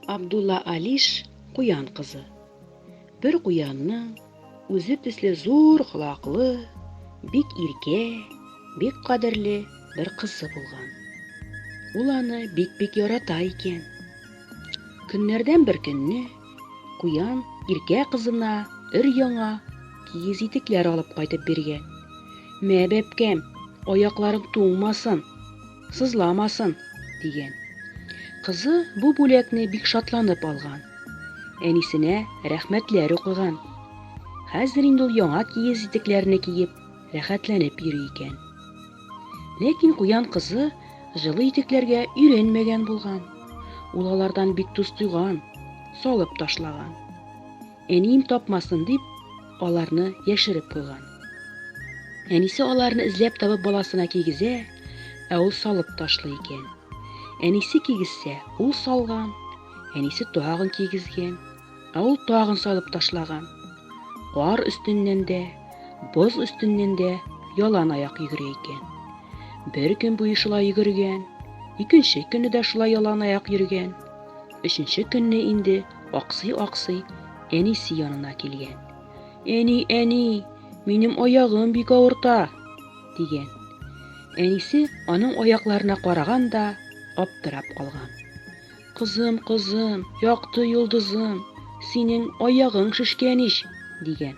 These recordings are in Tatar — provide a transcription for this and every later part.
Абдулла Алиш куян кызы. Бер куянның үзе төсле зур колаклы, бик иркә, бик кадерле бер кызы булган. Ул аны бик-бик ярата икән. Көннәрдән бер көнне куян иркә кызына өр яңа киез итекләр алып кайтып биргән. Мә, бәбкәм, аякларың туңмасын, сызламасын, дигән. Кызы бу бүләкне бик шатланып алган. Әнисенә рәхмәтләр укыган. Хәзер инде ул яңа киез итекләрне киеп, рәхәтләнеп йөри икән. Ләкин куян кызы җылы итекләргә өйрәнмәгән булган. Ул алардан бик тоз тойган, салып ташлаган. Әнием тапмасын дип, аларны яшереп куйган. Әнисе аларны эзләп табып баласына кигезә, ә ул салып ташлый икән. Әнисе кигезсә, ул салган, әнисе тагын кигезгән, ә ул тагын салып ташлаган. Кар өстеннән дә, боз өстеннән дә ялан аяк йөгерә икән. Бер көн буе шулай йөгергән, икенче көнне дә шулай ялан аяк йөргән. Өченче көнне инде аксый-аксый, әнисе янына килгән. Әни, әни, минем аягым бик авырта, дигән. Әнисе аның аякларына караган да аптырап калган. Кызым, кызым, якты йолдызым, синең аягың шешкән ич, дигән.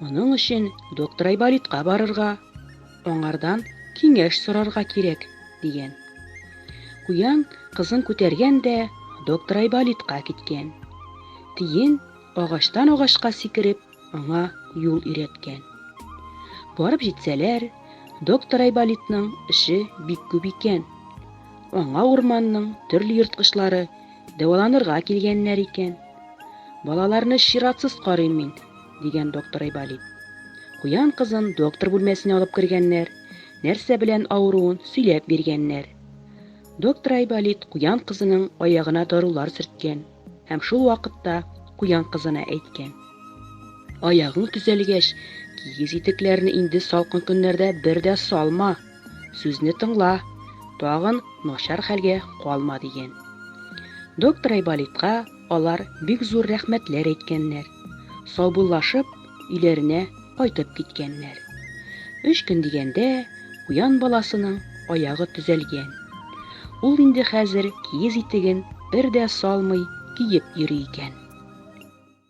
Моның өчен доктор Айболитка барырга, аңардан киңәш сорарга кирәк, дигән. Куян кызын күтәргән дә доктор Айболитка киткән. Тиен агачтан агачка сикереп, аңа юл өйрәткән. Барып җитсәләр, доктор Айболитның эше бик күп икән. Аңа урманның төрле ерткычлары дәваланырга килгәннәр икән. Балаларны чиратсыз карыйм мин, дигән доктор Айболит. Куян кызын доктор бүлмәсенә алып кергәннәр, нәрсә белән авыруын сөйләп биргәннәр. Доктор Айболит куян кызының аягына дарулар сөрткән һәм шул вакытта куян кызына әйткән. Аягың төзәлгәч, кигез итекләрне инде салкын көннәрдә бер дә салма. Сүзне тыңла, тагын начар хәлгә калма дигән. Доктор Айболитка Алар бик зур рәхмәтләр әйткәннәр, саубуллашып, өйләренә кайтып киткәннәр. Өч көн дигәндә, куян баласының аягы төзәлгән. Ул инде хәзер киез итеген бер дә салмый киеп йөри икән.